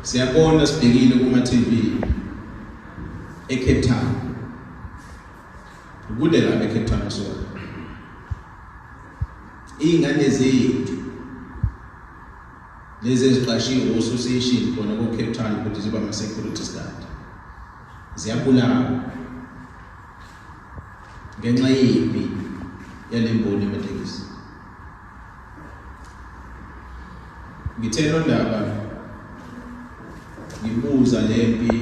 Siyabona sibhekile kuma TV eCape Town. Ukude la eCape Town so. Ingane zethu lezi eziqashiwe ususishini khona ko Cape Town ukuthi ziba ama security guard. Ziyabulawa ngenxa yempi yalemboni ematekisi. ngithe londaba ngibuza lempi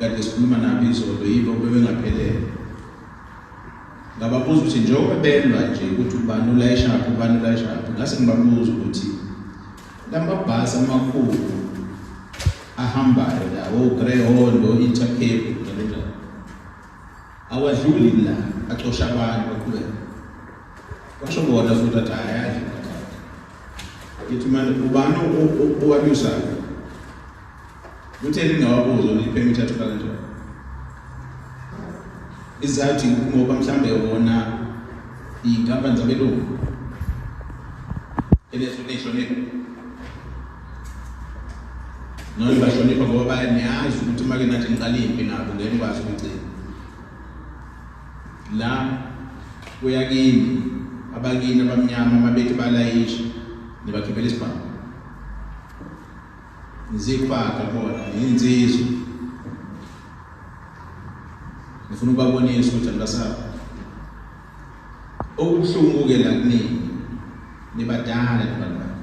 kade sikhuluma nabo izolo yibo bebengaphelele ngababuza ukuthi njengoba belwa nje ukuthi ubani ulayishaphi ubani ulayishaphi ngase ngibabuza ukuthi lamabhasi amakhulu ahambayo lawo greyhound o-intercape awadluli la acosha abantu baqhubeka basho bona futhi athi ayazi ngithi manje ubani owabiusayo kutheni ngawabuzo nipemit athola kanjani izathi ngoba mhlawumbe wona iy'nkampani zabelungu enehlonipho nani bahlonipha ngoba bayaniyazi ukuthi uma ke nathi niqala impi nabo ngeke nikwazi ukugcina la kuya kini abakini abamnyama ababethi balayisha nibakhiphela isibhamu nizifaka bona yinzizo ngifuna ukubabonisa ukuthi anibasaphi Okubuhlungu-ke la kunini nibadala nibantwana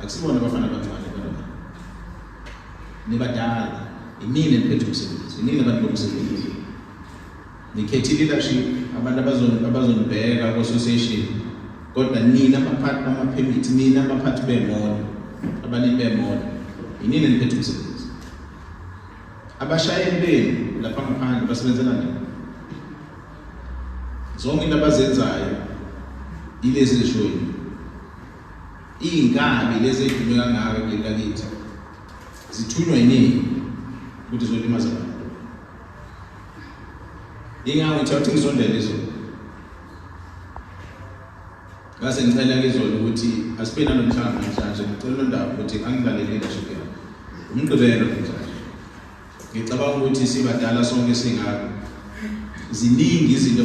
akusibona abafana abancane bantwana nibadala inini eniphethe umsebenzi inini abantu bomsebenzi nikhethe leadership abantu abazonibheka ku-association kodwa nina abaphathi bamaphemithi nina abaphathi beemoto abanini beemoto inini eniphethe umsebenzi abashayeli benu lapha ngaphandle basebenzela nini zonke into abazenzayo ilezi ezishoyile iy'nkabi lezi ey'dume kangaka kuleli lakithi zithunywa yiningi ukuthi zolimaza abantu ingako ngithatha ngizondela izolo ngase ngicela ngizolo ukuthi asibe nanomhlanga namhlanje ngicela londaba ukuthi angilalelile shukela umgqibelo mhlanje Ngicabanga ukuthi sibadala sonke singakho. Ziningi izinto